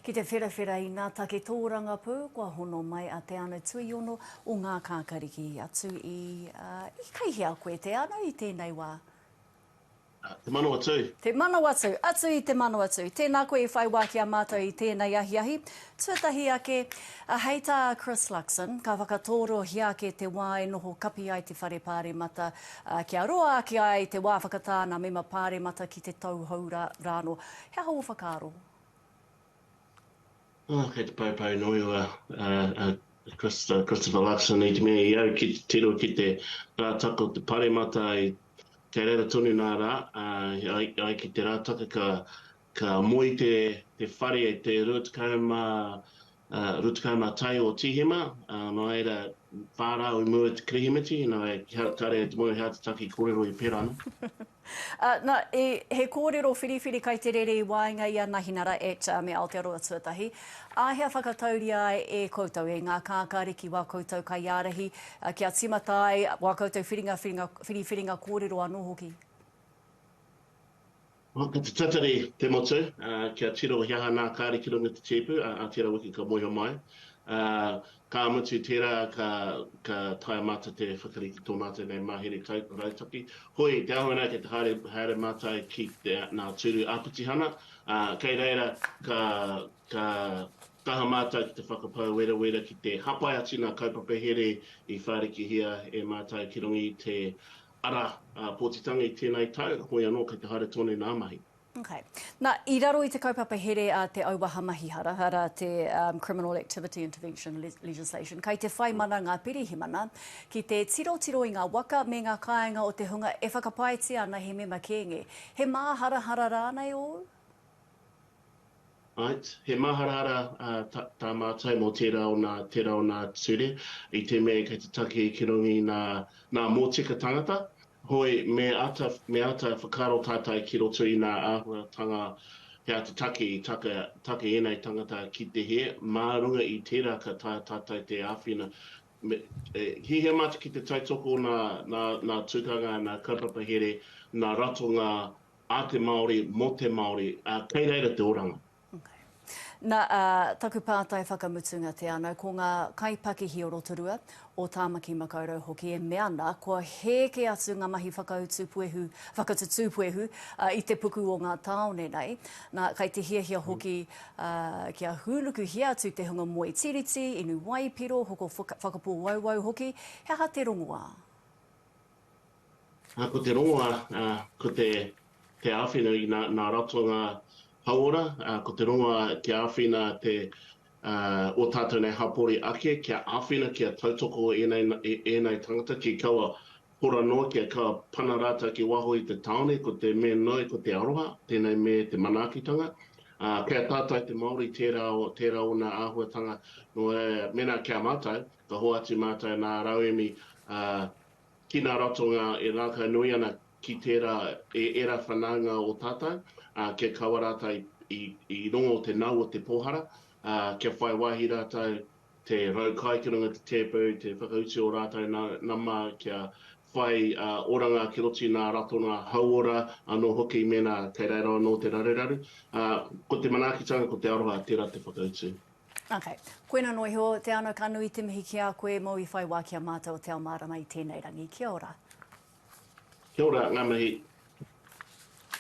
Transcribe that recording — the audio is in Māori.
Ki te wherawhera i ngā take tōrangapū kua hono mai a Te Ano Tuiono o Ngākākariki atu i, i kei hea koe Te Ano i tēnei wā? Te Manawatū. Te Manawatū, atu i Te Manawatū. Tēnā koe i whai wā ki a mātou i tēnei ahiahi. Tuatahi ake, hei tā Chris Luxon, ka whakatōrohia ake te wā e noho kapi ai te Whare Pāremata kia roa ake ai te wā whakatāna mema Pāremata ki te tauhou rānō. He aha ō whakaaro? Oh, kei te paupau nui o a, a, a Christopher, Christopher Luxon i te mea i au ki te tiro ki te rātaka o te paremata i kei reira tonu nā rā, uh, ai, ai ki te rātaka ka, ka moe te, te whare e te 20, Rutukana tai o Tihema, nō reira, whā rā we move to Kirihimeti, nā wai, kāre te moe he atataki kōrero e pērā ana. Nā, he kōrero whiriwhiri kai te rere i waenga i a Nahinara et me Aotearoa Tuatahi, āhea whakatauria ai e koutou, e ngā kākari ki wā koutou kaiārahi, kia tīmata ai wā koutou whiringa, whiringa, whiriwhiringa kōrero anō hoki? Ko te tatari te motu, kia tiro he aha nā kāre ki runga i te tēpu, ā, tērā wiki ka moeho mai. Ā, ka mutu tērā ka, ka taea mātou te whakarite i tō mātou nei mahere kai, rautaki. Hoi, te āhua nei kei te haere, haere mātou ki te, nā Tūru Āpitihana, ā, kei reira ka, ka kaha mātou ki te whakapau werawera ki te hapai atu i ngā kaupapa here i whārikihia e mātou ki runga i te, Arā, a Pōtitangei tēnā i taua, hoi anō kei te haere tonu nā mahi. Okay. Na, i raro i te kaupapa here a te auaha mahi hara, arā, te Criminal Activity Intervention Legislation, kei te whai mana ngā pirihimana ki te tirotiro i ngā waka me ngā kāinga o te hunga e whakapaetia ana he mema kēnge. He māharahara rānei ōu? Right, he maharahara tā mātou mō tērā o nā, tērā o nā ture, i te mea kei te take ki runga i nā, nā mōtika tangata, hoi, me āta, me āta whakaaro tātou ki roto i nā āhuatanga he āta take i taka, taka ēnei tangata ki te hē, mā runga i tērā ka taea tātou te āwhina, me, e, hiahia mātou ki te tautoko nā, nā, nā tukanga, nā kaupapa here, nā ratonga a te Māori, mō te Māori, ā, kei reira te oranga. Okay. Na, ā, taku pātai whakamutunga te ano, ko ngā kaipakihi o Rotorua, o Tāmaki Makaurau hoki e mea ana, kua hēke atu ngā mahi whakautu puehu, whakatutū puehu, ā, i te puku o ngā tāone nei. Na, kai te hiahia hoki, ā, kia hūnukuhia atu te hunga moe tiriti, inu waipiro, hoko whaka, whakapōauau hoki, he aha te rongoā? Ko te rongoa, ko te āwhina i ngā ratonga hauora, ko te rongoa kia āwhina ō tātou nei hapori ake, kia āwhina, kia tautoko ēnei tāngata ki kaua hora noa, kia kaua pana rātou ki waho i te tāone, ko te me nui, ko te aroha, tēnei me te manaakitanga. Kei a tātou te Māori tērā ōna āhuatanga, nō reira, mēnā ki a mātou, ka hoatu mātou nā rauemi ki ngā ratonga e ngākau nui ana ki tērā e ērā whanaunga o tātou, ā, kia kaua rātou i, i rongo o te nau o te pōhara, ā, kia whai wāhi rātou te rau kai ki runga i te tēpu, te whakautu o rātou na, nama kia whai, ā, oranga ki roto i ngā ratonga hauora anō hoki mēnā kei reira anō te raruraru. Ā, ko te manaakitanga, ko te aroha, tērā te whakautu. Ok. Koina noa iho, te ano ka nui te mihi ki a koe mo i whai wa ki a matou te ao marama i tenei rangi. Kia ora. Kia ora, nga mihi.